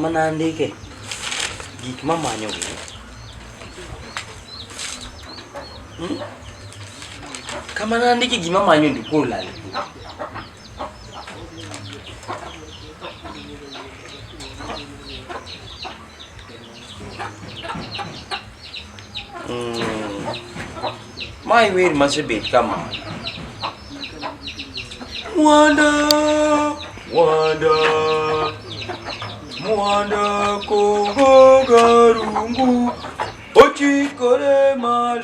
Mana andike gik mamanyo gi hmm? kama nandiki gima manyo ndikuwa ulale Mm. My will must be come on. Wanda, Wanda, Wanda kohogarungu, ochi kore malo.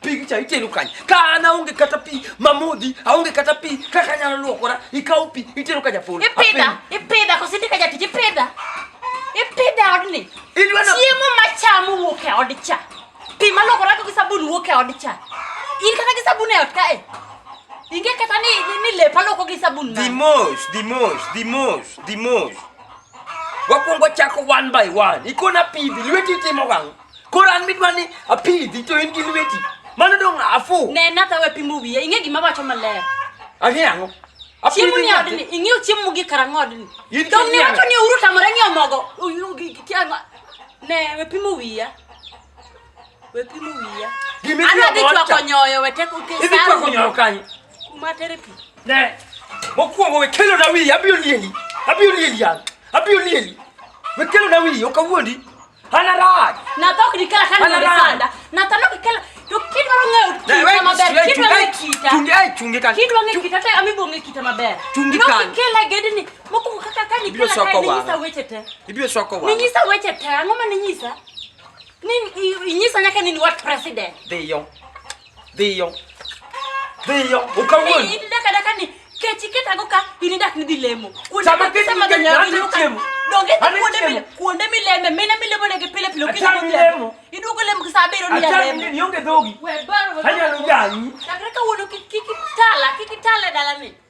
picha itelukanya kana unge kata pi mamudhi aunge kata pi kaka nyalo luokora ikaw pi itelukanya polo ipidha ipidha kosindika jatich ipidha ipidha odni chiemo machamo wuok e od cha pi malokora gi sabun wuok e od cha in kata gi sabun e ot kae inge kata ni ni lepa loko gi sabun the most the most the most the most wakwongo chako one by one ikona pidhi lweti itimo gang Koro an midwa ni apidhi to in gi lweti. Mano dong' afu. Ne natha we pimo wiya. Ing'e gima wacho maler. Ang'e ang'o? Chiemo ni odni, ing'eyo chiemo gi karang'o odni. Dong' ni wacho ni uru tamore ng'eyo mogo. Ne we pimo wiya. We pimo wiya. Ana dhi chwako nyoyo we tek uke saru. Idhi chwako nyoyo kanyo. Kuma tere pi. Ne. Mokwongo we kelo na wiya abiro lieli. Abiro lieli yan. Abiro lieli. We kelo na wiya okawuondi. Hana raj. Na to kidi kala kan ni sanda. Na to no kala to kid waro ng'eyo kita maber. Kid waro ng'eyo kita. Chungi ai chungi kan. Kid waro ng'eyo kita te ami bonge kita maber. Chungi kan. No kala gede ni moko kaka kan ni kala kan ni nyisa weche te. Ibiro soko wa. Ni nyisa weche te. Ang'o ma ni nyisa? Ni nyisa nyaka ni wat president. Dhiyo. Dhiyo. Dhiyo. Ukawuon. Ni daka daka ni kechi keta go ka ini dak ni dilemo. Kuonde ma kesa ma ganya ni ka. Donge ti kuonde mi kuonde mi leme mena mi lemo ne ke pile pile kini ko lemo. Idu ko lemo sa bero ni ya lemo. Ni yonge dogi. We baro. Hanya no jani. Takra ka wono kiki tala kiki tala dala ni.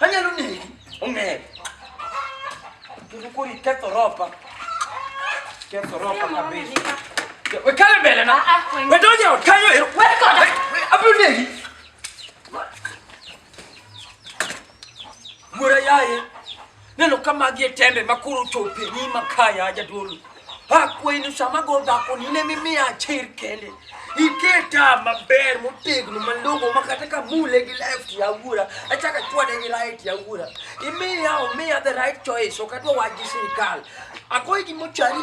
Anyalo negi. Ong'eyo. Kendo koro iketho ropa. Ketho ropa kabisa. We kale mbele na. We donje ot kanyo ero. We koda. Abiro negi. Mura yaye. Neno ka magi e tembe ma koro chope ni makaya jadolo. Akwayi ni sama go dhako ni ne mimiya achir kende. Iketa maber motegno malongo ma kata ka mule gi left ya wuora achaka chwade gi right ya wuora. Imiya omiya the right choice ok adwa wach gi sirikal. Akwayi gimochari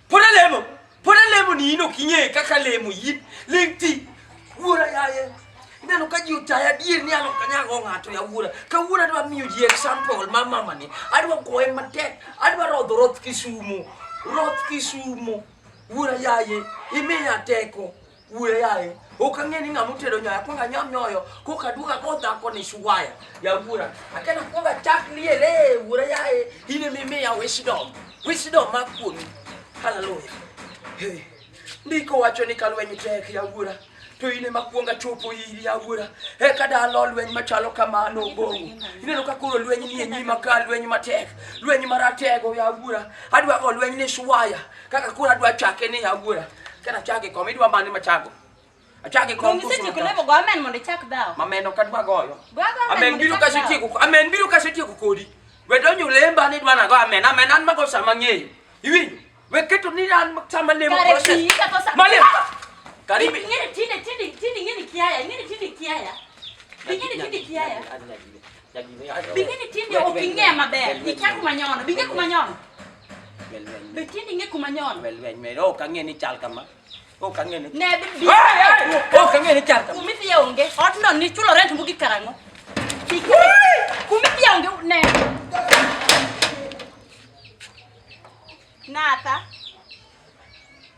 Pod alemo, pod alemo ni in ok ing'e kaka lemo in, ling ti. Wuora yaye, ineno ka ji otaya adier ni an ok anyago ng'ato ya wuora. Ka wuora adwa miyo ji example ma mama ni, adwa goye matek, adwa rodho roth Kisumo, roth Kisumo. Wuora yaye, imiya teko. Kue yaye. Ok ang'e ni ng'ama otedo nyoyo, akwongo anyam nyoyo, koka aduogo ago dhako ni shuwaya. Ya wuora, akena akwongo achak liel, ee wuora yaye, in ema imiya wisdom. Wisdom ma kuomi. Hallelujah. Hey. Ndiko wacho ni ka lweny tek ya wuora, to in ema kuonga chopo iri ya wuora. Eka dalo lweny machalo kamano ogongo. Ineno ka koro lweny nie nyima ka lweny matek, lweny maratego ya wuora. Adwa go lweny ni shuwaya. Kaka kura dwa chake ni agura. Kana chake kom idwa mani machago. Achake kom kusu. Mimi sisi lebo go amen mondo chak dawo. Amen ok adwa goyo. Amen biro ka siti ku. Amen biro ka siti ku kodi. We donyo lemba ni dwana go amen. Amen an mago sama ng'eyo. Iwinjo? We keto ni an sama lemo process. Mali. Karibi. Ngini tinde tinde tinde ngini kiaya. Ngini tinde kiaya. Ngini tinde kiaya. Bing'eni tinde ok ing'e maber. Ikia kuma nyono. Bing'e kuma nyono. Be tinde ing'e kuma nyono. Wel wel wel. Ok ang'e ni chal kama. Ok ang'e ni. Ne bi bi. Ok ang'e ni chal kama. Kumiti ya onge. Otno ni chulo rent mugi karang'o. Kumiti ya onge ne. Nata.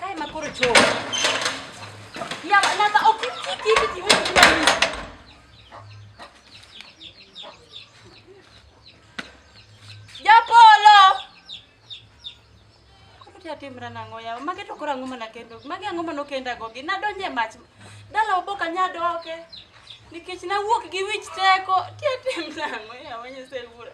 Kae ma koro chopo. Ya, nata ok kiki kiki wewe kila mtu. Japolo. Koro tia timra nango ya. Mage to koro angoma na kendo. Mage angoma no kenda gogi. Na donje mach. Dala oboka nyadoke. Nikech na wuok gi wich teko. Tia timra nango ya wenye se wura.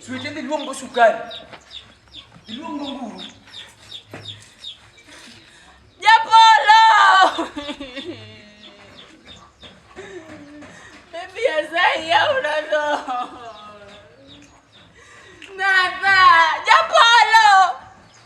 Siwete ni luongo sukari. Luongo nguru. Japolo! Baby azai ya unazo. Nada, Japolo!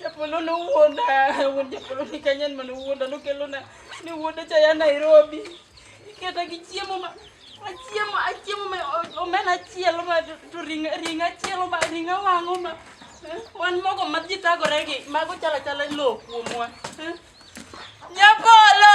Japolo nowuonda, wuon Japolo ni kanyan mane owuonda nokelona ni wuonda cha ya Nairobi. Iketa gi chiemo ma achiemo achiemo ma omena achiel ma to ringa ringa achiel ma ringa wang'o ma eh, wan mogo ma ji tagore gi mago chala chala lo kuomwa. eh. Japolo!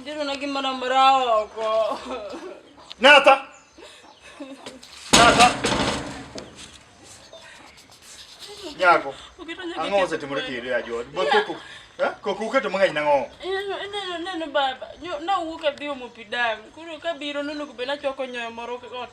Ndio na kimana mrao kwa. Nata. Nata. Nyako. Angoze timuriki ile ya jodi. Bokuku. Eh? Kokuka to mang'eny nang'o? Neno neno baba. Na wuok adhi omo pi dam. Koro kabiro nunu kubena choko nyoyo moro ot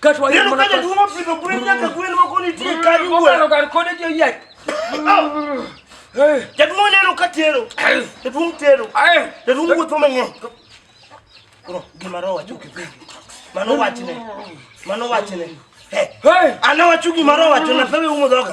Kato wale mwana kwa. Neno kaja duwa pido kule nyaka kule nwa koni tiye kani uwe. Kwa kwa kone tiye yai. Jadu mwana neno kati yero. Jadu mwana yero. Jadu mwana tome nye. Kuro, gima roho wacho kipigi. Mano wachine. Mano wachine. Hey. Ana wacho gima roho wacho na pewe umo dhoka.